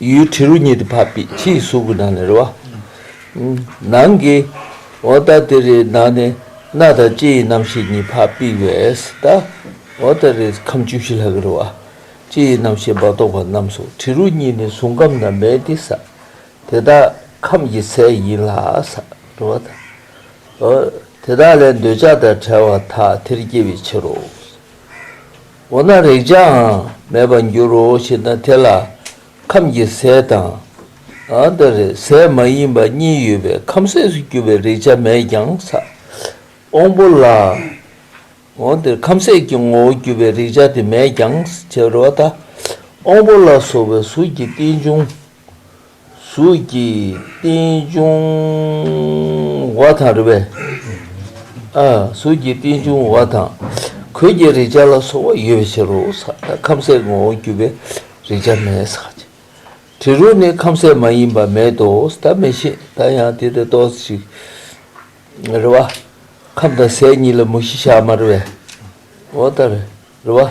ཡུལ་དྲི་རོ་ཉིད་དུ་འཕགས་པའི་ཕྱིའི་གཟུགས་ཀྱི་ནང་ནས་རེ་བ། ནང་གི་འོ་ད་དེ་རེའི་ནང་ནས་སྣ་དང་ལྕེ་ཡི་རྣམ་ཤེས་གཉིས་འཕགས་པས་བས་ད་འོ་ད་རེ་ཁམས་བཅུ་བཞི་ལྷག་གི་རེ་བ། ལྕེ་ཡི་རྣམ་ཤེས་བ་དོག་པ་རྣམས་སོ་དྲི་རོ་གཉིས་ནི་གཟུང་ཁམས་ན་མེད་དེ་ས་དེ་དག་ཁམས་ཀྱི་ཚད་ཡིན་ལ་ས་རེ་བ་དང། འོ་དེ་དག་ལས་འདོད་ཆགས་དང་བྲལ་བ་དག་དེར་སྐྱེ་བའི་ཕྱིར་རོ། འོ་ན་རེག་བྱའང་མེད་པར་འགྱུར་རོ་ཞེ་ན་དེ་ལ་ཁམས་ཀྱི་ཟས་དང། དེར་ཟས་མ་ཡིན་པ་གཉིས་ཡོད་པས་ཁམས་ཟས་སུ་གྱུར་པའི་རེག་བྱ་མེད་ཀྱང་ཟ། དབང་པོ་ལ། དེར་ཁམས་ཟས་ཀྱི་ངོ་བོར་གྱུར་པའི་རེག་བྱ་དེ་མེད་ཀྱང་བྱའོ། དབང་པོ་ལ་སོགས་པའི་གཟུགས་ཀྱི་རྟེན་འབྱུང། གཟུགས་ཀྱི་རྟེན་འབྱུང་བ་དང་རེ་བའི། གཟུགས་ཀྱི་རྟེན་འབྱུང་བ་དང། གོས་ཀྱི་རེག་བྱ་ལ་སོགས་པ་ཡོད་པའི་ཕྱིར་རོ། ཁམ་ཟས་ངོ་བོ་རྒྱུ་བའི་རེག་བྱ་མེད། དྲི་རོ་ནི་ཁམ་ཟས་མ་ཡིན་པ་མེད་དོ། ད་མི་ཤེས་ད་ཡང་དེ་དེ་ཏོག་ཅིག། རེ་བ། ཁམ་དང་ཟས་གཉིས་ལ་མུ་བཞི་ཞག་མ་རེ་བའི། འོ་ད་རེ་བ།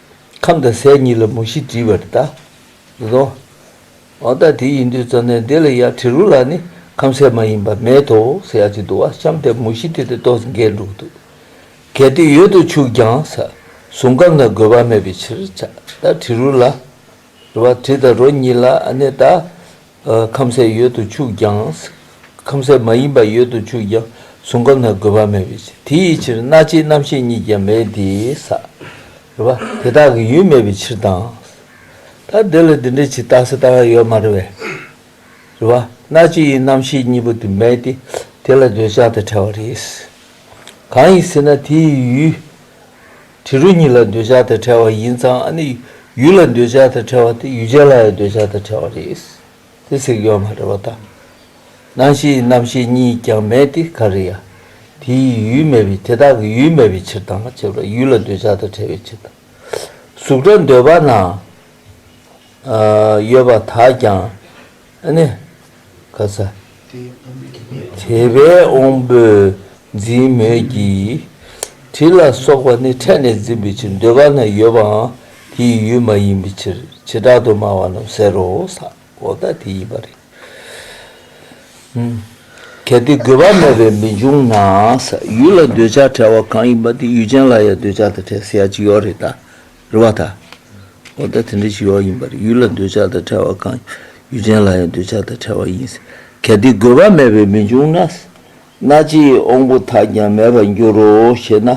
ཁམས་དང་ཟས་གཉིས་ལ་མུ་བཞི་བྲིས་པར་བལྟ། དེ་དག་འོ་ད་དེ་ཡིན་དུས་རྩ་གནས་འདི་ལ་ཡང་བྲི་རུ་ལ་ནི་ཁམས་ཟས་མ་ཡིན་པ་མེད་དོ་ཟེར་ཡག་ཅིག་འདུག་བ་ཤམ་དེ་མུ་བཞི་དེ་དེ་ཏོག་ཟིང་གས་འདུག་འདུག་གལ་ཏེ་ཡོད་དུ་ཆུག་ཀྱང་ཟ་ཟུང་སྐམ་ན་དགོས་པ་མེད་པའི་ཕྱིར་ད་བྲི་རུ་ལ། རུ་བ་དྲི་དང་རོ་གཉིས་ལ་གནས་ད། ཁམ་ཟས་ཡོད་དུ་ཆུག་ཀྱང། ཁམ་ཟས་མ་ཡིན་པ་ཡོད་དུ་ཆུག་ཀྱང་གཟུང་ཁམས་དང་དགོས་པ་མེད་པའི་ཕྱིར་དེ་ཡི་ཕྱིར་སྣ་ལྕེའི་རྣམ་ཤེས་གཉིས་ཀྱང་མེད་དེ། ས་རུ་བ་དེ་དག་གི་ཡུལ་མེད་པའི་ཕྱིར་དང། ད་དེ་ལ་དེ་འདྲའི་ཕྱིར་བཏགས་སུ་ལྟ་བ་ཡོད་མ་རུ་བའི། རུ་བ་སྣ་ལྕེ་ཡི་རྣམ་ཤེས་གཉིས་པོ་དེ་མེད་དེ། དེ་ལ་འདོད་ཆགས་དང་བྲལ་བ་རེད། གང་ཡིན་ཟེར་ན་དེ་ཡི་ཡུལ། དྲི་རོ་གཉིས་ལ་འདོད་ཆགས་དང་བྲལ་བ་ཡིན་ཙང་ཨ་ནི་ཡུལ་ལ་འདོད་ཆགས་དང་བྲལ་བ་དེ་ཡུལ་ཅན་ལ་ཡང་འདོད་ཆགས་དང་བྲལ་བ་རེད། དེ་ཟེར་གི་ཡོད་མ་རེད་བ་ད། སྣང་ཤེས་རྣམ་ཤེས་གཉིས་ཀྱང་མེད་དེ་ག་རེ་ཡ། དེ་ཡི་ཡུལ་མེད་པས་དེ་དག་གི་ཡུལ་མེད་པའི་ཕྱིར་དང་མ་བྱས་པར་ཡུལ་ལ་འདོད་ཆགས་དང་བྲལ་བའི་ཕྱིར་དང། གཟུགས་སྒྲ་འདོད་པ་ན་ཡོད་པ་དག་ཀྱང། ཨ་ནི། ག་ས། དེ་བས་འོང་པོས་འཛིན་མོད་ཀྱི། དྲི་ལ་སོགས་པ་ནི་ཕྲད་ནས་འཛིན་པའི་ཕྱིར་འདོད་པ་ན་ཡོད་པའང་དེའི་ཡུལ་མ་ཡིན་པའི་ཕྱིར་བྱེ་བྲག་ཏུ་སྨྲ་བ་རྣམས་ཟེར་རོ། ས་འོག་དག་དེ་ཡིན་པར་རིག། གལ་ཏེ་དགོས་པ་མེད་པས་མི་འབྱུང་ན། ཡུལ་ལ་འདོད་ཆགས་བྲལ་བ་གང་ཡིན་པ་དེ་ཡུལ་ཅན་ལ་ཡང་འདོད་ཆགས་དང་བྲལ་ཟེར་ཡ་ཅི་ཡོད་རེད་ད། རེ་བ་དང། ཨོ་ད་དེ་འདྲའི་ཞི་བ་ཡིན་པར་ཡུལ་ལ་འདོད་ཆགས་དང་བྲལ་བ་གང་ཡུལ་ཅན་ལ་ཡང་འདོད་ཆགས་དང་བྲལ་བ་ཡིན། གལ་ཏེ་དགོས་པ་མེད་པས་མི་འབྱུང་ན། སྣ་ལྕེའི་དབང་པོ་དག་ཀྱང་མེད་པར་འགྱུར་རོ་ཞེ་ན།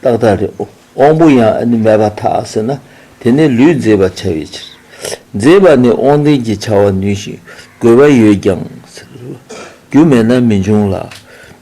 ཏག་ཏག་རེད། དབང་པོ་ཡང་མེད་པ་དག་ཟེར་ན་དེ་ནི་ལུས་མཛེས་པར་བྱ་བའི་ཕྱིར། མཛེས་པ་ནི་དབང་ལྡན་གྱིས་བྱ་བར་ནུས་ཤིང་དགོས་པ་ཡོད་ཀྱང། རྒྱུ་མེད་ན་མི་འབྱུང་ལ།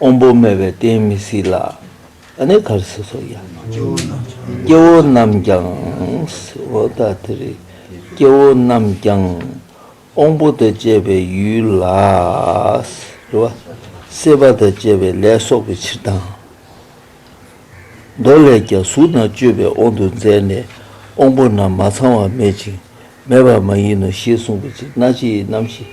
དབང་པོ་མེད་པའི་རྟེན་མི་སྲིད་ལ། ད་ནི་གར་སོ་སོར་ཡང་མ་འགྱུར། སྐྱེ་བོ་རྣམས་ཀྱང། ཨོ་ད་དེ་རེ། སྐྱེ་བོ་རྣམས་ཀྱང། དབང་པོ་དང་བཅས་པའི་ཡུལ་ལ། རེ་བ། སྲེད་པ་དང་བཅས་པའི་ལས་གསོག་པའི་ཕྱིར་དང། མདོ་ལས་ཀྱང་གཟུགས་རྣམས་སྤྱོད་པའི་དབང་དུ་མཛད་ནས་དབང་པོ་རྣམས་མ་ཚང་བ་མེད་ཅིང་མེད་པ་མ་ཡིན་ནོ་ཞེས་གསུངས་པའི་ཕྱིར་སྣ་ལྕེའི་རྣམ་ཤེས།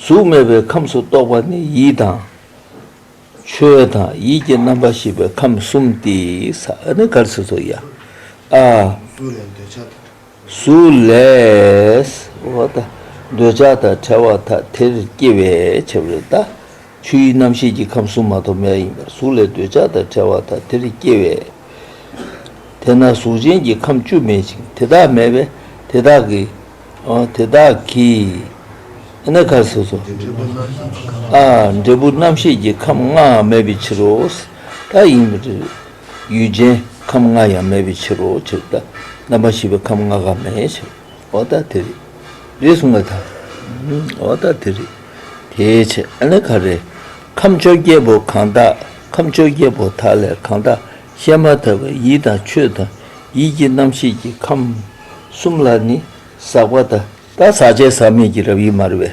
གཟུགས་མེད་པའི་ཁམས་སུ་གཏོགས་པ་ནི་ཡིད་དང། ཆོས་དང་ཡིད་ཀྱི་རྣམ་པར་ཤེས་པའི་ཁམས་གསུམ་སྟེ། གཟུགས་ལས་འདོད་ཆགས་དང་བྲལ་བ་དང། དེར་སྐྱེ་བའི་ཕྱིར་རོ། ཆུ་ཡི་རྣམ་ཤེས་ཀྱི་ཁམས་གཟུགས་མ་ཐོབ་མེད་ཡིན་པར་གཟུགས་ལས་འདོད་ཆགས་དང་བྲལ་བ་དང་དེར་སྐྱེ་བས། དེས་ན་གཟུགས་ཅན་གྱི་ཁམས་བཅུ་མེད་ཅིང་དེ་དག་མེད་པས་དེ་དག་གི། དེ་དག་གིས། འདི་ནི་ཁ། འབྲས་བུ་རྣམ་ཤེས་ཀྱི་ཁམས་ལྔའང་མེད་པའི་ཕྱིར་རོ། ད་ཡིན་པར་ཏེ། ཡུལ་ཅན་ཁམས་ལྔ་ཡང་མེད་པའི་ཕྱིར་རོ། ཇི་ལྟར་རྣམ་པར་ཤེས་པའི་ཁམས་ལྔ་ག་མེད་ཕྱིར། འོ་ད་དེ་རེད་རེད་གསུངས་པ་དང་འོ་ད་དེ་རེད་དེའི་ཕྱིར་ཨ་ནི་ག་རེ། ཁམས་བཅོ་བརྒྱད་པོ་གང་དག་ཁམས་བཅོ་བརྒྱད་པོ་དག་ལས་གང་དག་བཤད་མ་ཐག་པའི་ཡིད་དང་ཆོས་དང་ཡིད་ཀྱི་རྣམ་ཤེས་ཀྱི་ཁམས་གསུམ་ལ་ནི་ཟག་པ་དང། དང་ཟག་བཅས་ཟག་མེད་ཀྱི་རབ་དབྱེ་སྨྲ་བས།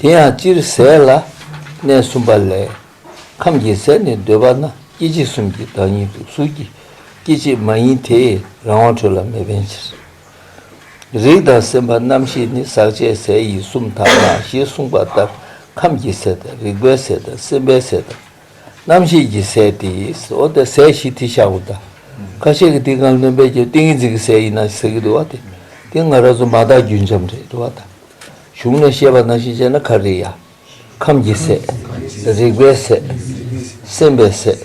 དེ་ཡང་སྤྱིར་ཟས་ལ་གནས་གསུམ་པ་ལས། ཁམས་ཀྱི་ཟས་ནི་འདོད་པ་ན་སྐྱེ་མཆེད་གསུམ་གྱི་བདག་ཉིད་དུ་གཟུགས་ཀྱི་སྐྱེ་མཆེད་མ་ཡིན་དེས་རང་དབང་འཕྲོད་ལ་མི་ཕན་ཕྱིར། རིགས་དང་སེམས་པ་རྣམ་ཤེས་ནི་ཟག་བཅས་ཟས་ཡིན་གསུམ་དག་ན་ཞེས་གསུངས་པ་ལྟར་ཁམས་ཀྱི་ཟས་དང་རིག་པའི་ཟས་དང་སེམས་པའི་ཟས་དང། རྣམ་ཤེས་ཀྱི་ཟས་ཏེ་ཟོ་དང་ཟས་བཞི་དེ་ཤ་འུ་དག་ཁ་ཤས་ཀྱི་ཏིང་ཀང་རློན་པས་ཀྱང་ཏིང་ངེ་འཛིན་གྱི་ཟས་ཡིན་ན་ཟེར་གྱི་འདུག་བ་དེ་ཏེ་ང་རང་ཚོ་མ་དག་རྒྱུན་འབྱམས་རེད་བ་དང། གཞུང་ནས་བཤད་པ་ན་ཤེས་བྱ་ནི་ཁ་རི་ཡ། ཁམ་གྱི་ཟས། རེག་པའི་ཟས། སེམས་པའི་ཟས།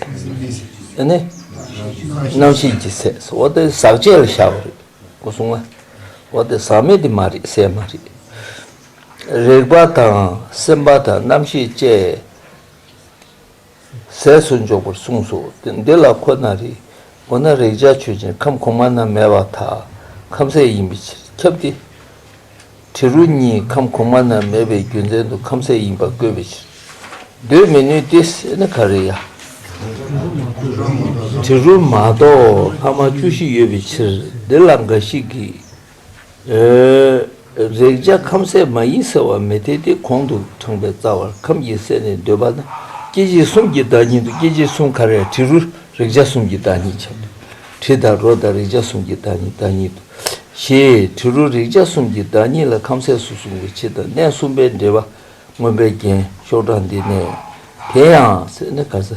ཨ་ནི། རྣམ་ཤེས་ཀྱི་ཟས་སོ། འོ་དེ་ཟག་བཅས་ལ་བཞག་པ་རེད། ངོ་སྲུང་ང། འོ་དེ་ཟག་མེད་དེ་མ་རེད་ཟས་མ་རེད། རེག་པ་དང་སེམས་པ་དང་རྣམ་ཤེས་བཅས། ཟས་སུ་འཇོག་པར་གསུངས་སོ། འདི་ལ་ཁོ་ན་རེ། འོ་ན་རེག་བྱ་ཆོས་ཅན་ཁམས་གོང་མ་ན་མེད་པ་དག་ཁམས་ཟས་ཡིན་པའི་ཕྱིར་ཁྱབ་སྟེ། དྲི་རོ་གཉིས་ཁམས་གོང་མ་ན་མེད་པའི་རྒྱུ་མཚན་དུ་ཁམས་ཟས་ཡིན་པར་བཀོད་པའི་ཕྱིར། འདོད་མི་ནུས་ཏེ་ཟས་ནི་ག་རེ་ཡ། དྲི་རོ་མ་གཏོགས་ལྷག་མ་བཅུ་བཞི་ཡོད་པའི་ཕྱིར་འདི་ལ་འགའ་ཞིག་གིས། རེག་བྱ་ཁམ་ཟས་མ་ཡིན་ཟེར་བ་མི་འཐད་དེ་གོང་དུ་དྲངས་པའི་རྩ་བར་ཁམ་གྱི་ཟས་ནི་འདོད་པ་ན་སྐྱེ་མཆེད་གསུམ་གྱི་བདག་ཉིད་དུ་སྐྱེ་མཆེད་གསུམ་ག་རེ་དྲི་རུ་རེག་བྱ་གསུམ་གྱི་བདག་ཉིད་བྱ། དྲི་དང་རོ་དང་རེག་བྱ་གསུམ་གྱི་བདག་ཉིད་བདག་ཉིད་དུ་ཞེས་དྲི་རུ་རེག་བྱ་གསུམ་གྱི་བདག་ཉིད་ལ་ཁམ་ཟས་སུ་གསུངས་པའི་ཕྱིར་དང་གནས་གསུམ་པའི་འབྲེལ་པ་མངོན་པའི་རྒྱན་ཤོག་གྲངས་འདི་ནས་དེ་ཡང་ཟས་ནི་ག་ས་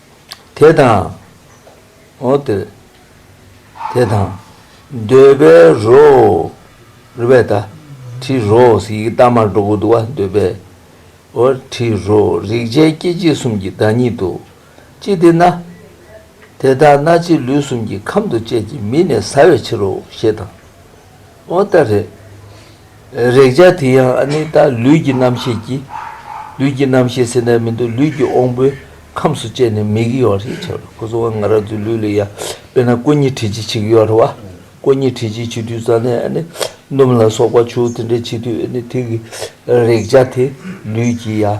དེ་དང། འོ་དེ་དེ་དང། འདོད་པའི་རོ། རུས་པའི་ད་དྲི་རོ། ཡི་གེ་རྟགས་མར་འགྲོ་དགོས་འདུག་བ་འདོད་པའི། འོ་དྲི་རོ། རེག་བྱའི་སྐྱེ་མཆེད་གསུམ་གྱི་བདག་ཉིད་དུ། ཅི་སྟེ་ན། དེ་དག་སྣ་ལྕེ་ལུས་གསུམ་གྱི་ཁམས་དུ་བཅས་ཀྱི་མི་ནས་ཟ་བའི་ཕྱིར་རོ་ཞེས་དང། འོ་ད་རེད། རེག་བྱ་དེ་ཡང་ཨ་ནི་ད་ལུས་ཀྱི་རྣམ་ཤེས་ཀྱིས། ལུས་ཀྱི་རྣམ་ཤེས་སེར་སྣའི་མི་འདུག་ལུས་ཀྱི་དབང་པོའི་ཁམས་སུ་བཅད་ནས་མིག་གཡོ་བ་རེད་བྱ་བ་ཁོ་ཚོ་བ་ང་ར་ཚོའི་ལུས་ལ་ཡ་དཔེར་ན་ཀོ་ཉི་དྲི་ཆི་ཆིག་ཡོ་ར་བ་ཀོ་ཉི་དྲི་ཆི་ཆིག་དུས་རྩ་ནས་ཨ་ནི་སྣུམ་ལ་སོགས་པ་ཆུ་བོ་དེ་འདྲ་ཆིག་དུས་ཨ་ནི་ཐིག་གི་རེག་བྱ་དེ་ལུས་ཀྱི་ཡ།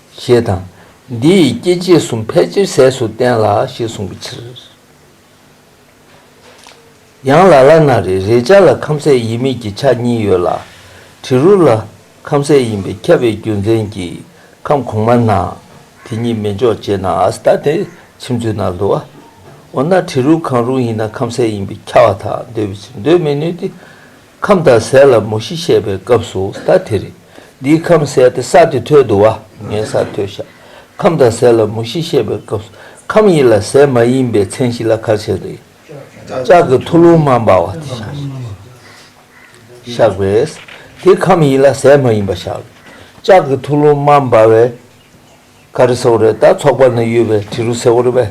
ཞེས་དང། འདི་ཡི་སྐྱེ་མཆེད་གསུམ་ཕལ་ཆེར་ཟས་སུ་བསྟན་ལ་ཞེས་གསུངས་པའི་ཕྱིར། ཡང་ལ་ལ་ན་རེ་རེའི་ཆ་ལ་ཁམ་ཟས་ཡིན་མིན་གྱི་ཆ་གཉིས་ཡོད་ལ། དྲི་རུ་ལ་ཁམ་ཟས་ཡིན་པས་ཁྱབ་པའི་རྒྱུ་མཚན་གྱིས་ཁམ་གོང་མ་ན་དེ་གཉིས་མི་འཇོག་ཅེས་ན་ཨཱ་སྟ་ཏའི་ཕྱིར་མཚོན་ན་བསླུ་བ། འོ་ན་དྲི་རུ་གང་རུང་ཡིན་ན་ཁམ་ཟས་ཡིན་པས་ཁྱབ་བ་དག་འདོད་པའི་ཕྱིར་འདོད་མི་ནུས་ཏེ། ཁམས་དང་ཟས་ལ་མུ་བཞི་བཤད་པའི་སྐབས་སུ་ད་དེ་རེད། འདིའི་ཁམས་ཟས་ཏེ་ས་དེ་ཐོད་དུ་བ་ངའི་ས་ཐོད་བཞག་ཁམས་དང་ཟས་ལ་མུ་བཞི་བཤད་པའི་སྐབས་སུ་ཁམས་ཡིན་ལ་ཟས་མ་ཡིན་པའི་མཚན་གཞི་ལ་གར་བྱེད་དེ། ལྕགས་ཀྱི་ཐུ་ལུང་མ་འབར་བ་དེ་བཞག་བཞག་པས་དེ་ཁམས་ཡིན་ལ་ཟས་མ་ཡིན་པ་བཞག་ལ་ལྕགས་ཀྱི་ཐུ་ལུང་མ་འབར་བས་ག་རེ་སེ་བོ་རེད་ད་ཚོགས་པ་ན་ཡོད་པའི་དྲི་རུ་སེ་བོ་རེད་པས་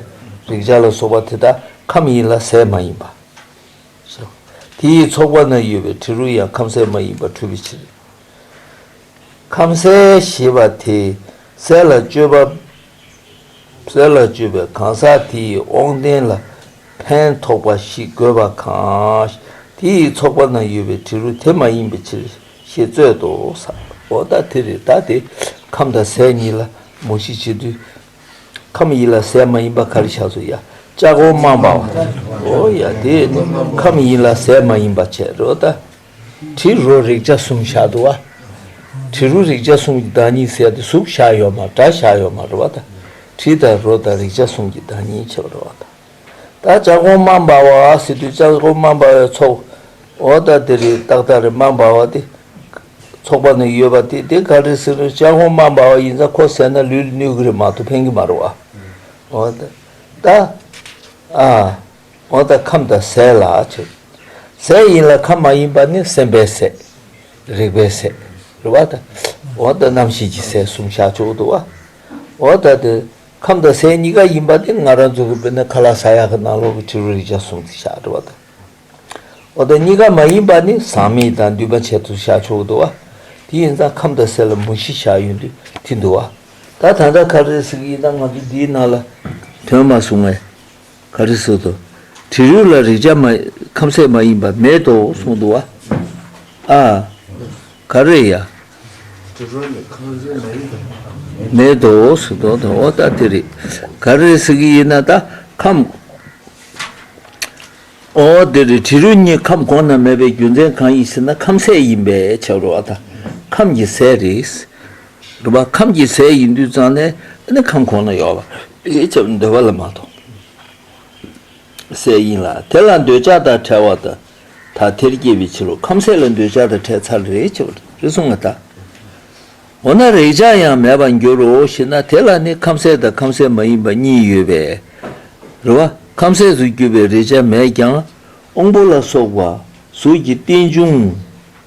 རེག་བྱ་ལ་སོགས་པ་དེ་དག་ཁམས་ཡིན་ལ་ཟས་མ་ཡིན་པ། སོ། དེ་ཡི་ཚོགས་པ་ན་ཡོད་པའི་དྲི་རོ་ཡང་ཁམ་ཟས་མ་ཡིན་པར་འཁྲུལ་པའི་ཕྱིར། ཁམ་ཟས་ཞེས་པ་དེ་ཟས་ལ་སྤྱོད་པ། ཟས་ལ་སྤྱོད་པའི་གང་ཟག་དེ་ཡི་དབང་ལྡན་ལ་ཕན་ཐོགས་པ་ཞིག་དགོས་པ་གང། དེ་ཡི་ཚོགས་པ་ན་ཡོད་པའི་དྲི་རོ་དེ་མ་ཡིན་པའི་ཕྱིར་ཞེས་རྩོད་དོ། ས། འོ་ད་དེ་རེ་ད་དེ་ཁམ་དང་ཟས་གཉིས་ལ་མོ་ཤི་བྱེད་དུས། ཁམས་ཡིན་ལ་ཟས་མ་ཡིན་པ་ག་རེ་བྱ་ཟུ་ཡ་ལྕགས་སྒོ་རྨང་པ་འོ་ཡ་དེ་ཁམས་ཡིན་ལ་ཟས་མ་ཡིན་པ་བྱེད་རོ་ད་དྲི་རོ་རེག་བྱ་གསུམ་བྱ་དུ་བ་དྲི་རོ་རེག་བྱ་གསུམ་གྱི་བདག་ཉིད་ཟས་དང་གཟུགས་བྱ་ཡོད་མ་བྲ་བྱ་ཡོད་མ་རོ་བ་ད་དྲི་དང་རོ་དང་རེག་བྱ་གསུམ་གྱི་བདག་ཉིད་བྱེད་པ་རོ་བ་ད། བདག་ཅག་གོང་མ་འབར་བ་འོག་སེ་དུས་ཅག་གོང་མ་འབར་བའི་ཚོགས། འོ་ད་དེ་རི་དྭགས་དང་རི་མ་འབར་བ་དེ། ཚོགས་པ་ནི་ཡོད་པ་དེ་དེ་ག་རེ་སེ་དུས་ཅག་གོང་མ་འབར་བ་ཡིན་ཙང་ཁོ་ཟས་ན་ལུས་ལ་ནུས་གི་རེད་མ་གཏོགས་ཕན་གི་མ་རེད་བ། འོ་ད། ད། ཨ། འོ་ད་ཁམས་དང་ཟས་ལ་བྱེད། ཟས་ཡིན་ལ་ཁམས་མ་ཡིན་པ་ནི་སེམས་པའི་ཟས། རེག་པའི་ཟས། རེད་བ་ད། འོ་ད་རྣམ་ཤེས་ཀྱི་ཟས་གསུམ་བཞག་ཆོག་གི་འདུག་བ། འོ་ད་དེ། ཁམས་དང་སའི་གཉིས་ཀ་ཡིན་པ་དེ་ང་རང་རྫོགས་གི་དཔེར་ན་ཁ་ལ་ས་ཡ་ཁ་ནང་ལོག་གི་ཕྱི་རོལ་རིག་བྱ་གསུམ་དུ་བཞག་འགྲོ་བ་དང། འོ་ད་གཉིས་ཀ་མ་ཡིན་པ་ནི་ཟག་མེད་དང་འདུས་པ་ཆེད་དུ་བཞག་ཆོག་གི་འདུག་བ། དེ་ཡིན་ཙང་ཁམས་དང་སའི་ལ་མུ་བཞི་བཞག་ཡོད་དུས་དེ་འདུག་བ། ད་ད་ལྟ་ཁ་རེ་ཟིག་ཡིན་ན་ང་ཚོ་འདིའི་ནང་ལ་དོན་མ་བཟུང་བས། ག་རེ་བཟོ་དོ། དྲི་རུས་ལ་རེག་བྱ་མ། ཁམ་ཟས་མ་ཡིན་པ་མེད་དོ་གསུངས་འདུག་བ། ཨ། ག་རེ་ཡ། དྲི་རུས་ལ་ཁམ་ཟས་མ་ཡིན་པ་མེད། མེད་དོ་གསུངས་འདུག་བ། འོ་ད་དེ་རེད། ག་རེ་ཟེར་གྱི་ཡིན་ན་ད་ཁམ། འོ་དེ་རེད་དྲི་རུས་གཉིས་ཁམ་གོང་ན་མེད་པའི་རྒྱུ་མཚན་གང་ཡིན་ཟེར་ན་ཁམ་ཟས་ཡིན་པས་ཆགས་རོ་བ། ད་ཁམ་གྱི་ཟས་རེད། རེད་བ། ཁམ་གྱི་ཟས་ཡིན་དུས་ཙང་ནས་ཨ་ནི་ཁམ་གོང་ན་ཡོད་བ། ཡིད་ཀྱང་འདོད་པ་ལ་མ་གཏོགས་སའི་དབྱིངས་ལ་དེ་ལ་འདོད་ཆགས་དང་བྲལ་བ་དང་ཐ་དད་སྐྱེས་པའི་ཕྱིར་རོ་ཁམས་གསལ་ལ་འདོད་ཆགས་དང་བྲལ་ཚར་རེ་ཆེ་བ་རེ་ཟུང་མ་དག་འོ་ན་རེག་བྱ་ཡང་མེད་པར་འགྱུར་རོ་ཞེ་ན་དེ་ལ་ནི་ཁམས་གསལ་དང་ཁམས་གསལ་མ་ཡིན་པ་གཉིས་ཡོད་པས་རེ་བ་ཁམས་གསལ་དུ་གྱུར་པའི་རེག་བྱ་མེད་ཀྱང་དབང་པོ་ལ་སོགས་པ་གཟུགས་ཀྱི་རྟེན་འབྱུང།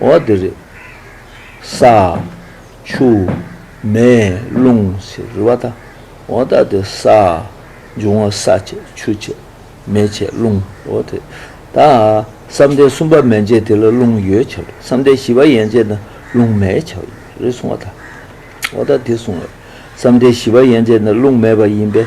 འོ་དེ་རེད། ས། ཆུ། མེ། རླུང། ཟེར་རི་བ་ད། འོ་ད་དེ་ས། འབྱུང་བ་ས་བྱེད་ཆུ་བྱེད་མེ་བྱེད་རླུང་འོ་དེ། ད། བསམ་གཏན་གསུམ་པ་མན་ཆད་དེ་ལ་རླུང་ཡོད་བྱ་བ་རེད་བསམ་གཏན་བཞི་པ་ཡན་ཆད་ན་རླུང་མེད་བྱ་བ་ཡིན་པ་རེད་གསུང་བ་ད། འོ་ད་དེ་གསུང་བ་རེད་བསམ་གཏན་བཞི་པ་ཡན་ཆད་ན་རླུང་མེད་པ་ཡིན་པས།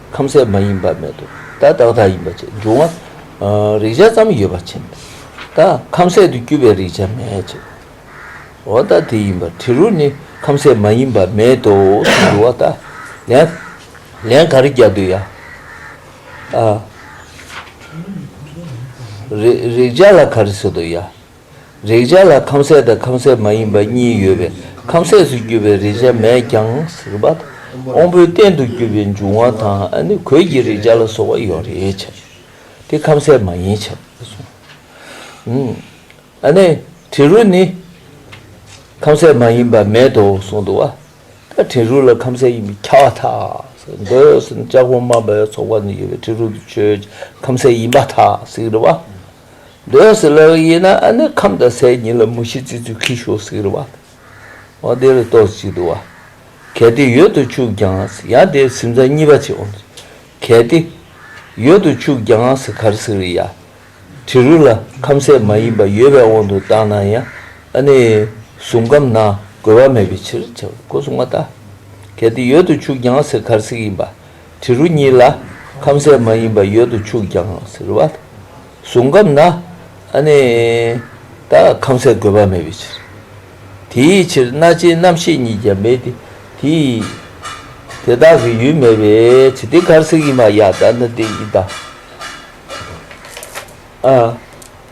ཁམས་གསལ་མ་ཡིན་པ་མེད་དོ། ད་བདག་བདག་ཡིན་པ་ཅེས་འབྱུང་བ། རིག་བྱ་ཙམ་ཡོད་པ་མཁྱེན་པས། ད་ཁམས་གསལ་དུ་བསྐྱུར་པའི་རིག་བྱ་མེད་ཅེས་པའོ། འོ་ད་དེ་ཡིན་པར་དྲི་རོ་ནི་ཁམས་གསལ་མ་ཡིན་པ་མེད་དོ་ཞེས་འབྱུང་བ་ལྟ་ལན། ལན་ག་རེ་རྒྱབ་འདོད་ཡ། རིག་བྱ་ལ་ག་རེ་བཟོ་འདོད་ཡ། རེག་བྱ་ལ་ཁམས་གསལ་དང་ཁམས་གསལ་མ་ཡིན་པ་གཉིས་ཡོད་པས་ཁམས་གསལ་སུ་གྱུར་པའི་རེག་བྱ་མེད་ཀྱང་སྲིད་པ་དང་དབང་པོའི་རྟེན་དུ་གྱུར་པའི་འབྱུང་བ་དང་ནི་གོས་ཀྱི་རེག་བྱ་ལ་སོགས་པ་ཡོད་རེག་བྱ་ཡོད་དེ་ཁམས་གསལ་མ་ཡིན་བྱ་བ་གསུངས། དྲི་རོ་ནི་ཁམས་གསལ་མ་ཡིན་པ་མེད་དོ་གསུངས་འདུག་བ་ད་དྲི་རོ་ལ་ཁམས་གསལ་ཡིན་པའི་ཁྱབ་བ་དག་འདོད་ཟིན་ལྕགས་ཕོ་དམར་པའི་ཚོགས་པ་ནི་ཡོད་པའི་དྲི་རོ་དུ་ཆོས་ཀྱི་ཁམས་གསལ་ཡིན་པ་དག་སྲིད་པ། འདོད་སྲེད་ལ་ཡིན་ན་ནི་ཁམས་དང་སའི་གཉིས་ལ་མུ་བཞི་བརྩི་ཚུལ་གྱིས་ཞོ་སིག་རི་བ་དང། འོ་དེ་ལ་ཏོག་ཅིག་དུ་བ། གལ་ཏེ་ཡོད་དུ་ཆུག་ཀྱང་ཡང་དེའི་སིམ་ཚ་གཉིས་པ་བྱེད་དགོངས་སོ། གལ་ཏེ། ཡོད་དུ་ཆུག་ཀྱང་གར་སིག་རི་ཡ། དྲི་རུ་ལ་ཁམས་སའི་མ་ཡིན་པ་ཡོད་པའི་དབང་དུ་བཏང་ན་ཡང་ནི་གཟུང་ཁམས་ན་གོལ་བ་མེད་པའི་ཕྱིར་བྱ་བའི་གོ་སྲུང་བ་དང། གལ་ཏེ་ཡོད་དུ་ཆུག་ཀྱང་གར་སིག་ཡིན་པ། དྲི་རོ་གཉིས་ལ་ཁམ་ཟས་མ་ཡིན་པ་ཡོད་དུ་ཆུག་ཀྱང་ཟེར་བ་བཟུང་སྐབས་ན་ཨ་ནི་ད་ཁམ་ཟས་དགོས་པ་མེད་པའི་ཕྱིར། དེའི་ཕྱིར་སྣ་ལྕེའི་རྣམ་ཤེས་ཉིད་ཀྱང་མེད་དེ་དེ་ཡི་དེ་དག་གི་ཡུལ་མེད་པའི་ཕྱིར་དེ་གར་ཟིག་ཡིན་པ་ཡང་ད་ནི་དེ་ཡི་དག།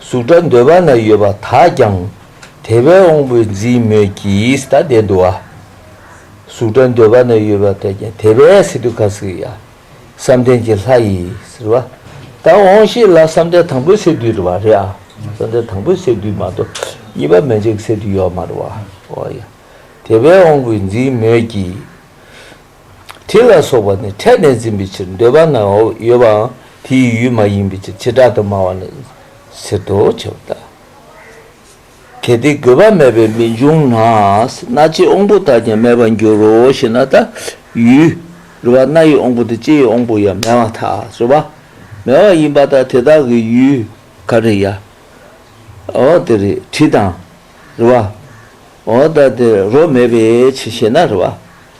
གཟུགས་སྒྲ་འདོད་པ་ན་ཡོད་པ་དག་ཀྱང་དེ་བས་འོང་བས་འཛིན་མོད་ཀྱི་ད་ལྟའི་འདུ་བ། གཟུགས་སྒྲ་འདོད་པ་ན་ཡོད་པ་དག་ཀྱང་དེ་བས་སི་ཏུ་ཁ་སི་ཡ། བསམ་གཏན་གྱི་ལྷ་ཡིས་ཟེར་བ། ད་འོང་ཤེས་ལ་བསམ་གཏན་དང་པོའི་སེ་དུའི་རེ་བ་རེད་ཨ། བསམ་གཏན་དང་པོའི་སེ་དུའི་མ་གཏོགས་གཉིས་པ་མན་ཆད་ཀྱི་སེ་དུའི་ཡོད་མ་རེད་བ། དེ་བས་འོང་བས་འཛིན་མོད་ཀྱི། དྲི་ལ་སོགས་པ་ནི་ཕྲད་ནས་འཛིན་པའི་ཕྱིར་འདོད་པ་ན་ཡོད་པའང་དེའི་ཡུལ་མ་ཡིན་པའི་ཕྱིར་བྱེ་བྲག་ཏུ་སྨྲ་བ་ནི་ཟེར་ཏོ་ཁྱབ་བདག་གལ་ཏེ་དགོས་པ་མེད་པས་མི་འབྱུང་ན་སྣ་ལྕེའི་དབང་པོ་དག་ཀྱང་མེད་པར་འགྱུར་རོ་ཞེ་ན་ད་ཡུལ་རེ་བ་སྣ་ཡི་དབང་པོ་དང་ལྕེའི་དབང་པོ་ཡང་མེད་མ་ཐག་རེ་བ་མེད་པ་ཡིན་པ་དང་དེ་དག་གི་ཡུལ་ག་རེ་ཡང་འོ་དེ་རེ་དྲི་དང་རེ་བའོ་ད་དེ་རོ་མེད་པའི་ཕྱིར་ཞེ་ན་རེ་བ་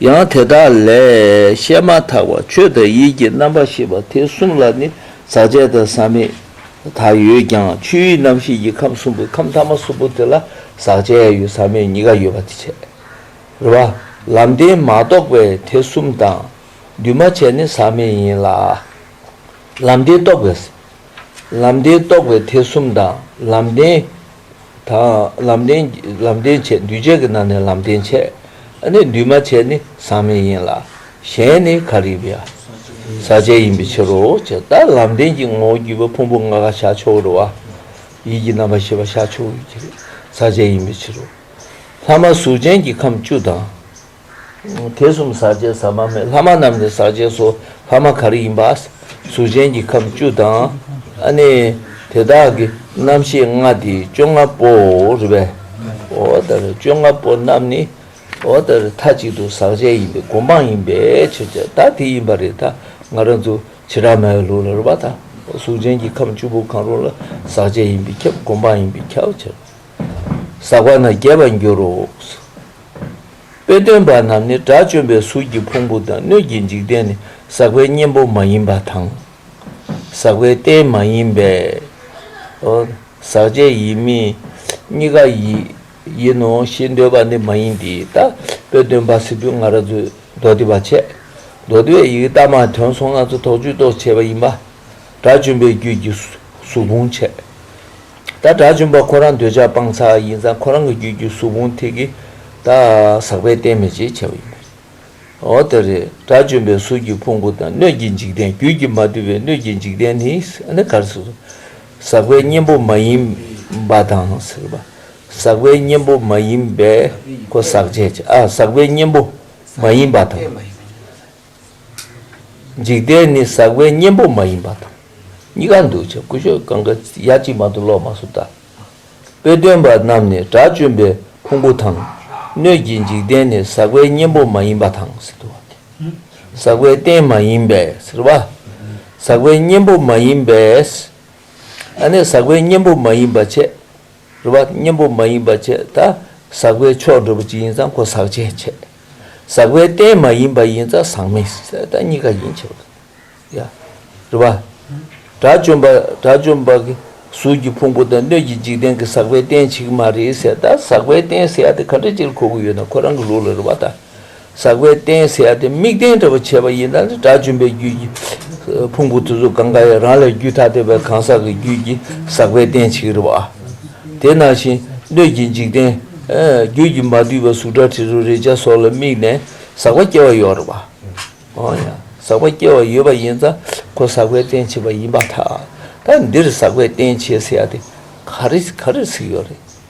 ཡང་དེ་དག་ལས་བཤད་མ་ཐག་པ་ཆོས་དང་ཡིད་ཀྱི་རྣམ་པར་ཤེས་པ་དེ་གསུམ་ལ་ནི་ཟག་བཅས་དང་ཟག་མེད་དག་ཡོད་ཀྱང་ཆོས་དབྱིངས་རྣམ་ཤེས་ཀྱི་ཁམས་གསུམ་པོའི་ཁམས་ཐ་མ་གསུམ་པོ་དེ་ལ་ཟག་བཅས་ཡོད་ཟག་མེད་གཉིས་ཀ་ཡོད་པ་དེ་ཕྱིར་རོ། ལམ་བདེན་མ་རྟོགས་པས་དེ་གསུམ་དང་འདུས་མ་བྱས་ནི་ཟག་མེད་ཡིན་ལ། ལམ་བདེན་རྟོགས་པས་ལམ་བདེན་རྟོགས་པའི་ཐེག་གསུམ་དང་ལམ་བདེན། དང། ལམ་བདེན། ལམ་བདེན་བྱེད་འདུས་བྱས་ཀྱི་ནང་ནས་ལམ་བདེན་བྱེད་ནི་འདུས་མ་བྱས་ནི་ཟག་མེད་ཡིན་ལ། གཞན་ནི་ག་རིག་པའི་ཟག་བཅས་ཡིན་པའི་ཕྱིར་རོ། ད་ལམ་བདེན་གྱི་ངོ་བོ་བརྒྱུད་པ་ཕུང་པོ་ལྔ་ག་ཤ་ཆོག་རུ་བ། ཡིད་ཀྱི་རྣམ་པར་ཤེས་པ་ཤ་ཆོག་ཡུལ་གྱི་ཟག་བཅས་ཡིན་པའི་ཕྱིར་རོ། ལྷག་མ་གཟུགས་ཅན་གྱི་ཁམས་བཅུ་དང། དེ་གསུམ་ཟག་བཅས་ཟ་མ་མེད་ལྷ་མ་རྣམས་ནི་ཟག་བཅས་སོ་ལྷ་མ་གར་ཡིན་པ། གཟུགས་ཅན་གྱི་ཁམས་བཅུ་དང། ནི། དེ་དག་གི་རྣམ་ཤེས་ལྔ་སྟེ་བཅོ་ལྔ་པོའོ། རེ་བས། བཅོ་ལྔ་པོ་རྣམས་ནི། མཐའ་གཅིག་ཏུ་ཟག་བཅས་ཡིན་པའི་སྒོམ་སྤང་ཡིན་པའི་ཕྱིར་ཆད་ལྟ་དེ་ཡིན་པ་རེད་ད་ང་རང་ཚོ་བྱེ་བྲག་མའི་ལུགས་ལ་རེ་བ་དང། གཟུགས་ཅན་གྱི་ཁམས་བཅུ་པོ་གང་རུང་ལ་ཟག་བཅས་ཡིན་པའི་ཁྱབ་སྒོམ་སྤང་ཡིན་པའི་ཁྱབ་བྱ། ཟག་པ་ན་རྒྱས་པར་འགྱུར་རོ། དཔེ་སྟོན་པ་རྣམས་ནི་དགྲ་བཅོམ་པའི་གཟུགས་ཀྱི་ཕུང་པོ་དང་སྣོད་ཀྱི་འཇིག་རྟེན་ནི་ཟག་པའི་གཉེན་པོ་མ་ཡིན་པ་དང། ཟག་པའི་རྟེན་མ་ཡིན་པའོ། ཟག་བཅས་ཡིན་མིན་གཉིས་ཀ་ཡིན་ནོ་ཞེས་འདོད་པ་ནི་མ་ཡིན་ཏེ། ད་དཔེ་སྟོན་པ་སི་ཏུ་ང་ར་ཛུས་མདོ་སྡེ་པ་ཆད་མདོ་སྡེ་བའི་ཡི་གེ་རྟགས་མ་དོན་སོང་ལྔ་ཚོ་དོགས་གཅོད་རྟོགས་བྱེད་པ་ཡིན་པ། དགྲ་བཅོམ་པའི་རྒྱུད་ཀྱི་གཟུགས་ཕུང་འཆད། ད་དགྲ་བཅོམ་པ་ཁོ་རང་འདོད་ཆགས་སྤང་ཚག་ཡིན་ཙང་ཁོ་རང་གི་རྒྱུད་ཀྱི་གཟུགས་ཕུང་ཐིག་གི་དག་ཟག་པས་བསྟན་མེད་ཅེས་བྱ་བ་ཡིན་པས་འོ་དེ་རེད་དགྲ་བཅོམ་པའི་གཟུགས་ཀྱི་ཕུང་པོ་དང་སྣོད་ཀྱི་འཇིག་རྟེན་རྒྱུད་ཀྱི་མ་དུལ་བའི་སྣོད་ཀྱི་འཇིག་རྟེན་ནི་ནི་གར་ཟག་པའི་གཉེན་པོ་མ་ཡིན་པ་དང་ཟག་པའི་གཉེན་པོ་མ་ཡིན་པས་ཟག་བྱེད་ཟག་པའི་གཉེན་པོ་མ་ཡིན་པ་དང། འཇིག་རྟེན་ནི་ཟག་པའི་གཉེན་པོ་མ་ཡིན་པ་དང། གཉི་ག་འདུ་བྱེད་ཀུན་ཤོ་གང་གི་ཡ་གཅིག་མ་དུ་ལོག་མ་སོ་ད། དཔེ་སྟོན་པ་རྣམས་ནི་དགྲ་བཅོམ་པའི་ཕུང་པོ་དང། སྣོད་ཀྱི་འཇིག་རྟེན་ནི་ཟག་པའི་གཉེན་པོ་མ་ཡིན་པ་དང་ཟེར་དུ་བ་སྟེ། ཟག་པའི་རྟེན་མ་ཡིན་པས་ཟེར་བ། ཟག་པའི་གཉེན་པོ་མ་ཡིན་པས། ཨ་ནི་ཟག་པའི་གཉེན་པོ་མ་ཡིན་པ་བྱས། རུ་བ་གཉེན་པོ་མ་ཡིན་པ་བཅས་ད་ཟག་པའི་ཕྱོགས་འགྲོ་བ་ཅི་ཡིན་ཙང་གོ་ཟག་ཅེས་འཆད། ཟག་པའི་རྟེན་མ་ཡིན་པ་ཡིན་ཙང་ཟག་མེད་ཟད་ད་གཉིས་ཀ་ཡིན་འཆད་པ་དང། ཡང་རུ་བ། དགྲ་བཅོམ་པ་དགྲ་བཅོམ་པ་གི་གཟུགས་ཀྱི་ཕུང་པོ་དང་སྣོད་ཀྱི་འཇིག་རྟེན་གྱི་ཟག་པའི་རྟེན་ཞིག་མ་རེད་ཟད་ད་ཟག་པའི་རྟེན་ཟད་ད་ག་འདྲ་ཅིར་གོ་གི་ཡོད་ན་ཁོ་རང་གི་ལུགས་ལ་རུ་བ་དང། ཟག་པའི་རྟེན་ཟེར་ཡ་དེ་དམིགས་རྟེན་འདྲ་བོ་བྱས་པ་ཡིན་ན་ནི་དགྲ་བཅོམ་པའི་རྒྱུད་ཀྱི་ཕུང་པོ་དུ་གཟུགས་གང་ག་ཡང་རང་ལས་རྒྱུད་ཐ་དད་པའི་གང་ཟག་གི་རྒྱུད་ཀྱི་ཟག་པའི་རྟེན་བྱེད་ཀྱི་རེད་བ། དེ་ནང་བཞིན་སྣོད་ཀྱི་འཇིག་རྟེན། རྒྱུད་ཀྱི་མ་བསྡུས་པའི་གཟུགས་སྒྲ་དྲི་རོ་རེག་བྱ་སོགས་ལ་དམིགས་ནས་ཟག་པ་སྐྱེ་བ་ཡོད་རེད་བ། འོན་ཡང་ཟག་པ་སྐྱེ་བ་ཡོད་པ་ཡིན་ཙང་ཁོ་ཟག་པའི་རྟེན་བྱེད་པ་ཡིན་པ་ཐག་ད་འདིར་ཟག་པའི་རྟེན་བྱེད་ཟེར་ཡ་དེ་ག་རེ་ག་རེ་ཟིག་ཡོད་རེད།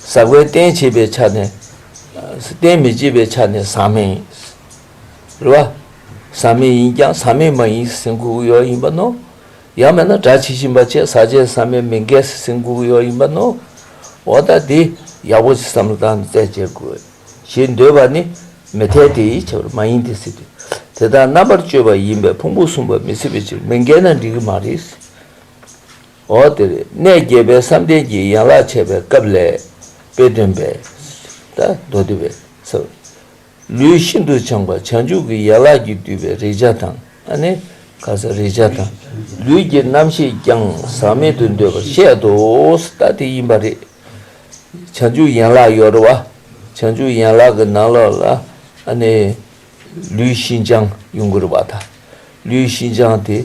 ཟག་པའི་རྟེན་བྱེད་པའི་ཆ་ནས་རྟེན་མི་བྱེད་པའི་ཆ་ནས་ཟག་མེད་ཡིན། རེད་བ། ཟག་མེད་ཡིན་ཀྱང་ཟག་མེད་མ་ཡིན་སེམས་འགུག་གི་ཡོ་ཡིན་པ་ནོ། ཡང་མེད་ན་སྒྲ་ཇི་བཞིན་པ་བཅས་ཟག་བཅས་ཟག་མེད་མི་འགལ་སེམས་འགུག་གི་ཡོ་ཡིན་པ་ནོ། འོ་ད་དེ་ཡག་པོ་ཞིག་བསམ་བློ་བཏང་ནས་རྩད་བཅད་དགོས། ཞེས་འདོད་པ་ནི་མི་འཐད་དེ་ཡིད་ཆེས་པར་མ་ཡིན་ཏེ་སྲིད། དེ་དག་རྣམ་པར་དཔྱོད་པ་ཡིན་པས་ཕུང་པོ་གསུམ་པ་མི་སྲིད་པའི་ཕྱིར་མི་འགལ་ན་འགྲིག་གི་མ་རེད། འོག་དེར་གནས་བརྒྱད་པའི་བསམ་གཏན་གྱི་ཡན་ལག་འཆད་པའི་སྐབས་ལས། དཔེ་སྟོན་པས། ད་མདོ་སྡེ་པས། ལུས་ཤིན་ཏུ་བྱང་བ་བྱང་ཆུབ་ཀྱི་ཡན་ལག་གིས་བསྡུས་པའི་རེག་བྱ་དང། རེག་བྱ་དང། ལུས་ཀྱི་རྣམ་ཤེས་ཀྱང་ཟག་མེད་དུ་འདོད་པར་བཤད་དོ། ད་དེ་ཡིན་པ་རེད། བྱང་ཆུབ་ཡན་ལག་ཡོར་བ། བྱང་ཆུབ་ཡན་ལག་གི་ནང་ལོགས་ལ། ལུས་ཤིན་སྦྱངས་ཡུངས་ཀར་བ་དང། ལུས་ཤིན་སྦྱངས་དེ།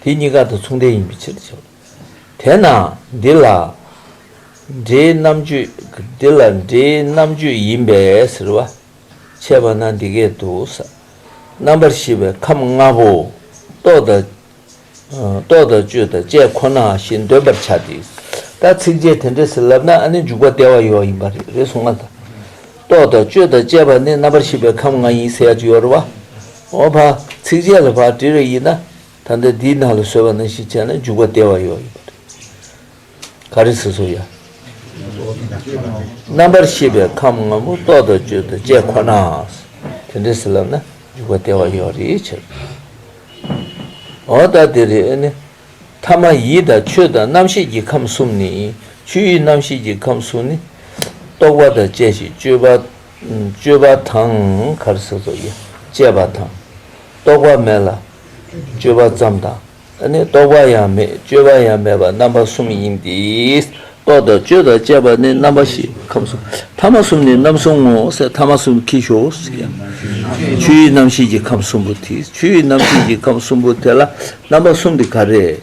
དེ་གཉིས་ཀ་དང་མཚུངས་ལྡན་ཡིན་པའི་ཕྱིར་དུ་བྱ་བ། དེས་ན་འདི་ལ་སྒྲའི་རྣམ་གཅོད། འདི་ལ་སྒྲའི་རྣམ་གཅོད་ཡིན་པས་ཟེར་བ། འཆད་པ་ན་འདི་སྐད་དུ། རྣམ་པར་ཤེས་པའི་ཁམས་ལྔ་པོ། རྟོག་དང། རྟོག་དང་དཔྱོད་དང་དཔྱད་ཁོ་ན་ཞེས་འདོད་པར་བྱ་སྟེ། ད་ཚིག་རྗེས་དེ་འདྲའི་ཟེར་ལབ་ན་ཨ་ནི་འཇུག་པ་སྟེར་བ་ཡོད་ཡིན་པ་རེད་རེད་གསུངས་མ་ཐག་རྟོག་དང་དཔྱོད་དང་དཔྱད་པ་ནི་རྣམ་པར་ཤེས་པའི་ཁམས་ལྔ་ཡིན་ཟེར་ཡ་ཅི་ཡོད་རེད་བ། འོ་བ། ཚིག་རྗེས་ལ་བ་དྲི་རེ་ཡིན་ན། ད་ལྟ་འདིའི་ནང་ལ་སོལ་བ་ནང་བཞིན་བྱས་ན་འཇུག་པ་བདེ་བ་ཡོད། ག་རེ་ཟེར་སོ་ཡ། རྣམ་པར་ཤེས་པའི་ཁམས་ངོ་བོ་རྟོག་དང་དཔྱོད་དང་བཅས་ཁོ་ན། དེ་འདྲ་ཟེར་ལབ་ན་འཇུག་པ་བདེ་བ་ཡོད་རེའི་ཕྱིར། འོ་ད་དེ་རེ་ནི། ཐ་མ་ཡིད་དང་ཆོས་དང་རྣམ་ཤེས་ཀྱི་ཁམས་གསུམ་ནི། ཆོས་ཡིད་རྣམ་ཤེས་ཀྱི་ཁམས་གསུམ་ནི། རྟོག་པ་དང་བཅས་ཤིང་དཔྱོད་པ། སྤྱོད་པ་དང། གར་སོགས་སོགས་ཀྱིས་སྤྱད་པ་དང། རྟོག་པ་མེད་ལ། སྤྱོད་པ་ཙམ་དང། ནི་རྟོག་པ་ཡང་མེད་སྤྱོད་པ་ཡང་མེད་པ་རྣམ་པ་གསུམ་ཡིན་ཏེ། རྟོག་དང་སྤྱོད་དང་སྤྱད་པ་ནི་རྣམ་པ་བཞི་ཁམས་གསུམ་ཐ་མ་གསུམ་ནི་རྣམ་གསུམ་ངོ་སྲེད་ཐ་མ་གསུམ་གྱིས་ཞོག་ཡང། ཆོས་ཡུལ་རྣམ་ཤེས་ཀྱི་ཁམས་གསུམ་པོ་དེ་ཆོས་ཡུལ་རྣམ་ཤེས་ཀྱི་ཁམས་གསུམ་པོ་དེ་ལ་རྣམ་པ་གསུམ་དེ་ག་རེ།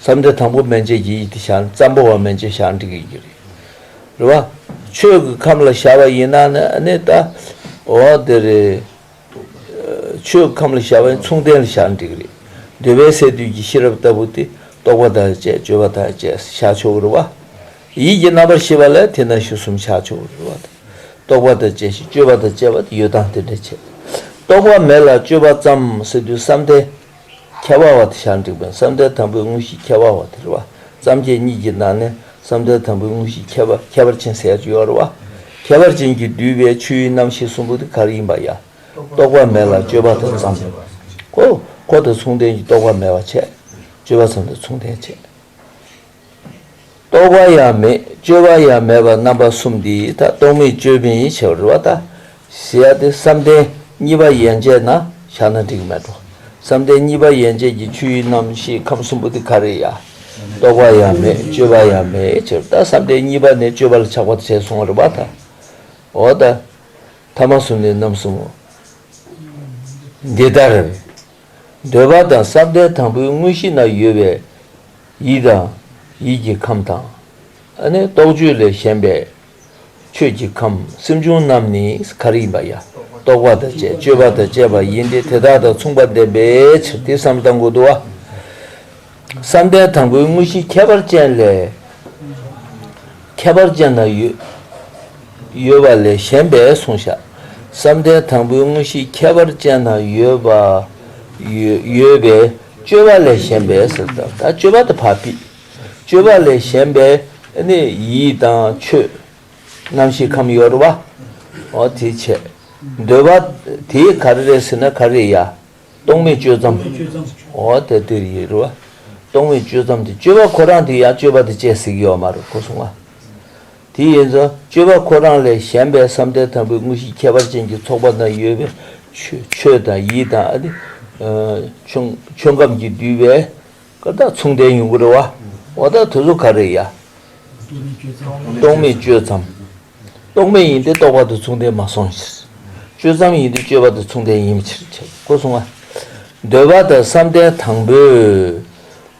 བསམ་གཏན་དང་པོ་མན་ཆད་ཀྱི་ཡིད་དེ་ཞག་ཙམ་པོ་བ་མན་ཆད་ཞག་འགྲིག་ཡོད་ཀྱི་རེད། རེད་བ། ཆོས་ཀྱི་ཁམས་ལ་ཞག་བ་ཡིན་ན་ནི་ད། འོ་དེ་རེད། ཆོས་ཀྱི་ཁམས་ལ་ཞག་བ་ཡིན་མཚུངས་ལྡན་ལ་ཞག་འགྲིག་རེད། འདོད་པའི་སས་བསྡུས་ཀྱི་ཤེས་རབ་ལྟ་བུ་དེ་རྟོག་པ་དང་བཅས་དཔྱོད་པ་དང་བཅས་སུ་ཆགས་ཆོག་གི་རེད་བ། ཡིད་ཀྱི་རྣམ་པར་ཤེས་པ་ལ་དེ་ན་ཞུ་གསུམ་ཆགས་ཆོག་གི་རེད་བ་དང། རྟོག་པ་དང་བཅས་ཤིང་དཔྱོད་པ་དང་བཅས་པ་དེ་ཡོད་དང་དེ་འདྲ་བྱས། རྟོག་པ་མེད་ལ་དཔྱོད་པ་ཙམ་སེ་བསྡུས་བསམ་གཏན། ཁྱད་པར་བ་དེ་ཞག་འགྲིག་པའི་བསམ་གཏན་དང་པོའི་དངོས་གཞི་ཁྱད་པར་བ་དེར་བ་ཙམ་གྱི་གཉིས་ཀྱི་ནང་ནས་བསམ་གཏན་དང་པོའི་དངོས་གཞི་ཁྱད་པར་ཁྱད་པར་ཅན་ཟད་བཅུ་ཡོར་བ། ཁྱད་པར་ཅན་གྱིས་བསྡུས་པའི་ཆོས་དབྱིངས་རྣམ་ཤེས་གསུམ་པོ་དེ་གར་ཡིན་པ་ཡང། རྟོག་པ་མེད་ལ་སྤྱོད་པ་དང་བརྩམས། གོ། གོ་དང་མཚུངས་ལྡན་གྱི་རྟོག་པ་མེད་པར་བྱས། སྤྱོད་པ་བརྩམས་དང་མཚུངས་ལྡན་བྱས། རྟོག་པ་ཡང་མེད་དཔྱོད་པ་ཡང་མེད་པར་རྣམ་པ་གསུམ་འདི་ཡིས་ད་རྟོག་མེད་དཔྱོད་མེད་ཡིན་བྱས་པར་རུ་བ་ལྟ། ཞེས་ཡ་སྟེ་བསམ་གཏན་གཉིས་པ་ཡན་ཆད་ན་བཞག་ན་འགྲིག་མེད་དོ། བསམ་གཏན་གཉིས་པ་ཡན་ཆད་ཀྱི་ཆོས་དབྱིངས་རྣམ་ཤེས་ཁམས་གསུམ་པོ་དེ་ག་རེ་ཡ། རྟོག་པ་ཡང་མེད་དཔྱོད་པ་ཡང་མེད་ཅེས་པར་ད་བསམ་གཏན་གཉིས་པ་ནས་དཔྱོད་པ་ལ་ཆགས་པར་བྱས་སོང་བར་རུ་བ་ལྟ། འོ་ད། ཐ་མ་གསུམ་ནི་རྣམ་གསུམ་མོ། འདི་ལྟར། འདོད་པ་དང་བསམ་གཏན་དང་པོའི་དངོས་གཞི་ན་ཡོད་པའི། ཡིད་དང། ཡིད་ཀྱི་ཁམས་དང། ཨ་ནི་རྟོག་དཔྱོད་ལས་གཞན་པའི། ཆོས་ཀྱི་ཁམས་སེམས་བྱུང་རྣམས་ནི་གར་ཡིན་པ་ཡ། རྟོག་པ་དང་བཅས་དཔྱོད་པ་དང་བཅས་པ་ཡིན་ཏེ་དེ་དག་དང་མཚུངས་པར་ལྡན་པའི་ཕྱིར་དེ་བསམ་གཏན་དགུ་དུ། བསམ་གཏན་དང་པོའི་དངོས་གཞི་ཁྱད་པར་ཅན་ལས། ཁྱད་པར་ཅན་དང་ཡོད་པ་ལས་གཞན་པའི་གཟུང་བྱ། བསམ་གཏན་དང་པོའི་དངོས་གཞི་ཁྱད་པར་ཅན་དང་ཡོད་པ། ཡོད་པའི། སྤྱོད་པ་ལས་གཞན་པའི་ཟེར་བ་དང། སྤྱོད་པ་དང་བག་པས། སྤྱོད་པ་ལས་གཞན་པའི་ནི་ཡིད་དང་ཆོས། རྣམ་ཤེས་ཁམས་གཡོར་བ། འོ་དེའི་ཆེད། འདོད་པ། དེས་ག་རེ་རེད་ཟེར་ན་ག་རེ་ཡ། རྟོག་མེད་སྤྱོད་ཙམ། འོ་དེ་དེ་ཡི་རུ། རྟོག་མེད་སྤྱོད་ཙམ་དེ་སྤྱོད་པ་ཁོ་རང་དེ་ཡ་སྤྱོད་པ་དེ་བཅས་གཟིགས་ཡོད་མ་རུ་ཁོ་གསུང་བ། དེ་ཡིན་ཙང་སྤྱོད་པ་ཁོ་རང་ལས་གཞན་པའི་བསམ་གཏན་དང་པོའི་དངོས་གཞིའི་ཁྱད་པར་ཅན་གྱི་ཚོགས་པ་ན་ཡོད་པའི་ཆོས་དང་ཡིད་དང་ཨ་ཏི། ཆོས་ཁམས་ཀྱིས་བསྡུས་པའི་ཀ་དག་མཚུངས་ལྡན་ཉུང་ངུར་བ་འོ་ད་དུ་སུ་ག་རེ་ཡ། རྟོག་མེད་སྤྱོད་མཚམས། རྟོག་མེད་ཡིན་ཏེ་རྟོག་པ་དང་མཚུངས་ལྡན་མ་སོང་ཕྱིར། སྤྱོད་མཚམས་ཡིན་ཏེ་སྤྱོད་པ་དང་མཚུངས་ལྡན་ཡིན་ཕྱིར་ཆེ་བསྐོར་གསུངས་ཨ། འདོད་པ་དང་བསམ་གཏན་དང་པོའི་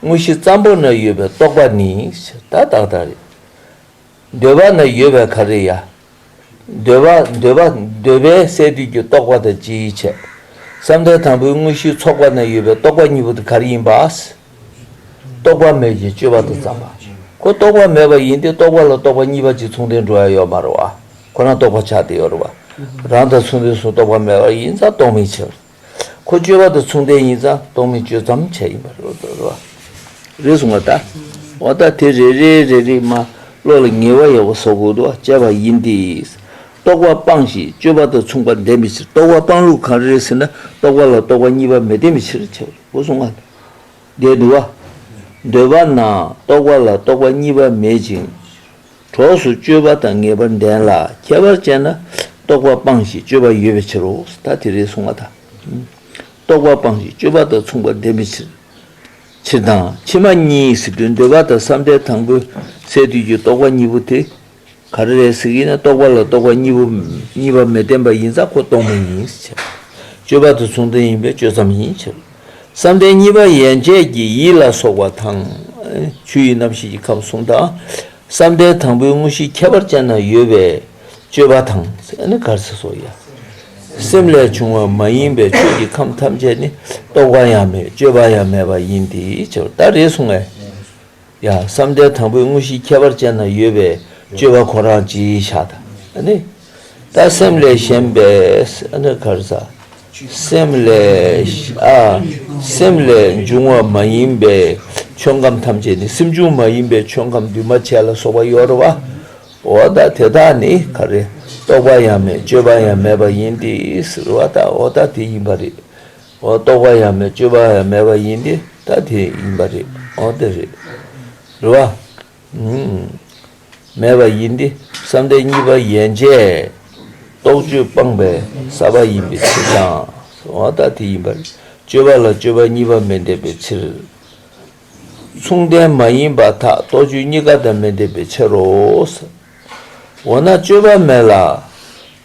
དངོས་གཞི་ཙམ་པོ་ན་ཡོད་པའི་རྟོག་པ་ནི་ད་དག་དག་རེད། འདོད་པ་ན་ཡོད་པའི་ག་རེ་ཡ། འདོད་པ་འདོད་པ་འདོད་པའི་སས་བསྡུས་ཀྱི་རྟོག་པ་དང་སྤྱི་ཡི་ཆེད། བསམ་གཏན་དང་པོའི་དངོས་གཞིའི་ཚོགས་པ་ན་ཡོད་པའི་རྟོག་པ་གཉིས་པོ་དེ་ག་རེ་ཡིན་པ། རྟོག་པ་མེད་ཅིང་སྤྱོད་པ་དང་བརྩམས་པ་ཁོ་རྟོག་པ་མེད་པ་ཡིན་ཏེ་རྟོག་པ་ལ་རྟོག་པ་གཉིས་པ་གཅིག་མཚུངས་ལྡན་འགྲོ་བ་ཡོད་མ་རུང་བ་ཁོ་ན་རྟོག་པ་ཆགས་ཏེ་ཡོད་རུང་བ་རང་དང་མཚུངས་པའི་གཟུང་རྟོག་པ་མེད་པར་ཡིན་ཙང་རྟོག་མེད་ཕྱིར། ཁོ་སྤྱོད་པ་དང་མཚུངས་ལྡན་ཡིན་ཙང་རྟོག་མེད་སྤྱོད་ཙམ་བྱས་ཡིན་པ་རེད་གསུངས་པ་དང། བ་ད་དེ་རེ་རེའི་རེ་རེ་མ་བློ་ལ་ངེས་བ་ཡོད་པ་སོགས་གོ་བདུ་བ་བཅས་པ་ཡིན་ཏེ། རྟོག་པ་སྤངས་ཤིང་སྤྱོད་པ་དང་མཚུངས་པ་ལྡན་པའི་ཕྱིར་རྟོག་པ་སྤངས་ལུགས་གང་རེད་ཟེར་ན་རྟོག་པ་ལ་རྟོག་པ་གཉིས་པ་མི་ལྡན་པའི་ཕྱིར་ཆོས་གོ་གསུངས་པ་དང། འདས་བདུ་བ། འདོད་པ་ན་རྟོག་པ་ལ་རྟོག་པ་གཉིས་པ་མེད་ཅིང། གྲོགས་སུ་སྤྱོད་པ་དང་ངེས་པར་ལྡན་ལ་ཁྱད་པར་ཅན་ན་རྟོག་པ་སྤངས་ཤིང་སྤྱོད་པ་ཡོད་པའི་ཕྱིར་རོ། ད་དེ་རེས་གསུངས་པ་དང། རྟོག་པ་སྤངས་ཤིང་སྤྱོད་པ་དང་མཚུངས་པར་ལྡན་པའི་ཕྱིར། ཕྱིར་དང་ཕྱི་མ་གཉིས་གཟིགས་དུས་འདོད་པ་དང་བསམ་གཏན་དང་པོའི་སའི་དུས་ཀྱི་རྟོག་པ་གཉིས་པོ་དེ་ག་རེ་རེད་གཟིགས་ཡིན་ན་རྟོག་པ་ལ་རྟོག་པ་གཉིས་པོ་གཉིས་པ་མི་ལྡན་པ་ཡིན་ཙང་ཁོ་རྟོག་མ་ཡིན་ཕྱིར། སྤྱོད་པ་དང་མཚུངས་ལྡན་ཡིན་པས་སྤྱོད་ཙམ་ཡིན་ཕྱིར། བསམ་གཏན་གཉིས་པ་ཡན་ཆད་ཀྱི་ཡིད་ལ་སོགས་པ་དང། ཆུ་ཡི་རྣམ་ཤེས་ཀྱི་ཁམས་གསུམ་དང། བསམ་གཏན་དང་པོའི་དངོས་གཞིའི་ཁྱད་པར་ཅན་ན་ཡོད་པའི་སྤྱོད་པ་དང། སེམས་ལས་བྱུང་བ་མ་ཡིན་པའི་ཆོས་ཀྱི་ཁམས་ཐམས་ཅད་ནི་རྟོག་པ་ཡང་མེད་སྤྱོད་པ་ཡང་མེད་པ་ཡིན་ཏེ། ཇི་ལྟར་རེ་ཟུང་ངེ། ཡང་བསམ་གཏན་དང་པོའི་དངོས་གཞིའི་ཁྱད་པར་ཅན་ན་ཡོད་པའི་སྤྱོད་པ་ཁོ་རང་ཅི་བྱ་ད། ལྟ་སེམས་ལས་གཞན་པས། སེམས་ལས། སེམས་ལས་འབྱུང་བ་མ་ཡིན་པའི་ཆོས་ཁམས་ཐམས་ཅད་ནི་སེམས་བྱུང་མ་ཡིན་པའི་ཆོས་ཁམས་འདུས་མ་བྱས་ལ་སོགས་པ་ཡོད་རོ། འོ་ད་དེ་དག་ནི་ག་རེ། རྟོག་པ་ཡང་མེད་སྤྱོད་པ་ཡང་མེད་པ་ཡིན་ཏེ། འོ་ད་དེ་ཡིན་པ་རེད། རྟོག་པ་ཡང་མེད་སྤྱོད་པ་ཡང་མེད་པ་ཡིན་ཏེ་ད་དེ་ཡིན་པ་རེད་འོ་དེ་རེད་རེད་བ། མེད་པ་ཡིན་ཏེ་བསམ་གཏན་གཉིས་པ་ཡན་ཆད་རྟོག་དཔྱོད་སྤངས་པའི་ས་པ་ཡིན་པའི་ཕྱིར་དང་འོ་ད་དེ་ཡིན་པ་རེད་སྤྱོད་པ་ལ་སྤྱོད་པ་གཉིས་པ་མི་འདེབས་པའི་ཕྱིར། མཚུངས་ལྡན་མ་ཡིན་པ་དག་རྟོག་དཔྱོད་གཉིས་ཀ་དང་མི་འདེབས་པའི་ཕྱིར་རོ། འོ་ན་སྤྱོད་པ་མེད་ལ་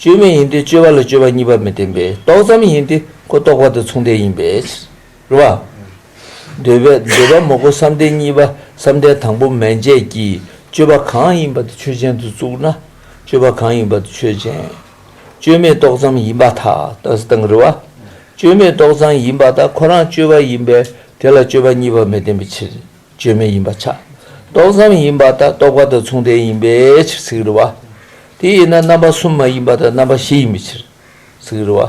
བཅོས་མིན་ཡིན་ཏེ་བཅོས་པ་ལ་བཅོས་པ་གཉིས་པ་མི་བརྟེན་པས་རྟོག་ཙམ་ཡིན་ཏེ་ཁོ་རྟོག་པ་དང་མཚུངས་ལྡན་ཡིན་པས། རེད་བ། འདོད་པས་འདོད་པ་མོག་པོ་བསམ་གཏན་གཉིས་པ་བསམ་གཏན་དང་པོ་མན་ཆད་ཀྱིས་བཅོས་པ་གང་ཡིན་པ་དེ་ཆོས་ཅན་དུ་བཙུགས་ན། བཅོས་པ་གང་ཡིན་པ་དེ་ཆོས་ཅན། བཅོས་མེད་རྟོག་ཙམ་ཡིན་པ་དག་དག་སེ་དང་རེད་བ། བཅོས་མེད་རྟོག་ཙམ་ཡིན་པ་དག་ཁོ་རང་བཅོས་པ་ཡིན་པས་དེ་ལ་བཅོས་པ་གཉིས་པ་མི་བརྟེན་པའི་ཕྱིར། བཅོས་མིན་ཡིན་པ་ཆགས་རྟོག་ཙམ་ཡིན་པ་དང་རྟོག་པ་དང་མཚུངས་ལྡན་ཡིན་པའི་ཕྱིར་ཚིག་རེ་བ། དེ་ཡིན་ན་རྣམ་པ་གསུམ་མ་ཡིན་པ་དང་རྣམ་པ་བཞི་ཡིན་པའི་ཕྱིར། ཚིག་རེ་བ།